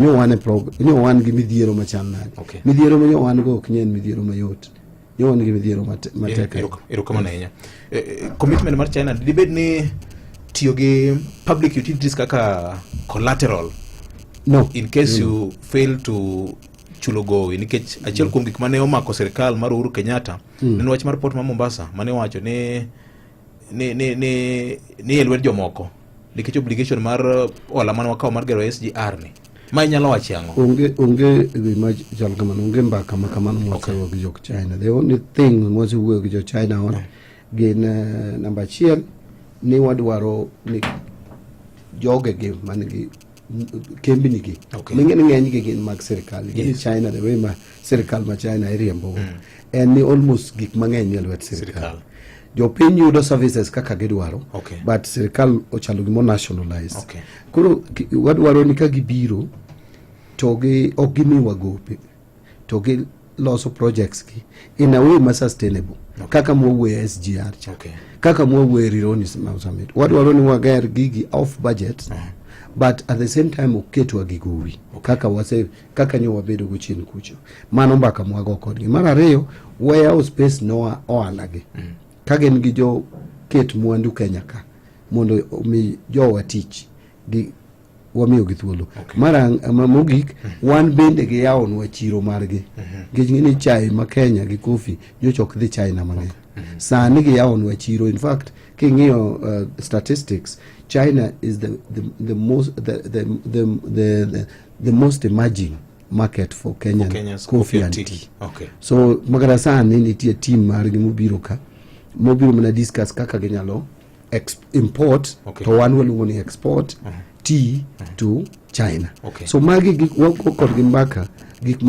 nyo wan e prog nyo wan gi midhiero machal nade Okay. midhiero ma nyo wan go ok nyen midhiero mayot nyo wan gi midhiero mate- matek ahinya. erokamano ahinya Eh, eh, commitment mar china dibed ni tiyo gi public utilities kaka collateral no in case you fail to chulo gowi nikech achiel kuom gik mane omako sirikal mar uhuru kenyatta en wach mar port ma mombasa mane owacho ni ni ni ni ni e lwet jomoko nikech obligation mar uh, hola mane wakawo mar gero SGR ni ma inyalo wache ang'o onge onge gima chal kamano onge mbaka ma kamano mwasewuoyo okay. gi jok China the only thing mwasewuoyo gi jo China on no. gin uh, namba achiel ni wadwaro ni jogegi man gi kembni gi okay. ming'eni ng'eny gi gin mag sirikal gin yes. china the way ma sirikal ma china iriembo mm. en ni almost gik mang'eny nie lwet sirikal jopiny yudo services kaka gidwaro okay. but sirikal ochalo gimo nationalized okay. koro wadwaro ni ka gibiro to gi ok gimiwa gope to gi loso projects gi in a way ma sustainable okay. kaka mwawuoye SGR cha okay. kaka mwawuoye Rironi Summit wadwaro ni wager gigi off budget uh -huh. but at the same time oketwa gi gowi okay. kaka wase kaka nyo wabedo go chien kucho mano mbaka mwago kodgi mar ariyo wayawo space noa ohala gi mm. ka gin gi jo ket mwandu Kenya ka mondo omi jowa tich gi wamiyogi thuolo okay. mara mogik mhm. wan bende giyawonwa chiro margi mhm. nikech ng'e ni chai ma kenya gi kofi nyocha ok dhi china mang'eny mhm. sani giyawonwa chiro in fact king'iyo uh, statistics china is the, the, the, most, the, the, the, the, the, the most emerging market for kenyan, for kenyan coffee and tea okay. so makata sani nitie team margi mobiro ka mobiro mana discuss kaka ginyalo ex import okay. to wan waluongo ni export uh -huh. tea uh -huh. to China okay. so magi gik wago kodgi mbaka gik ma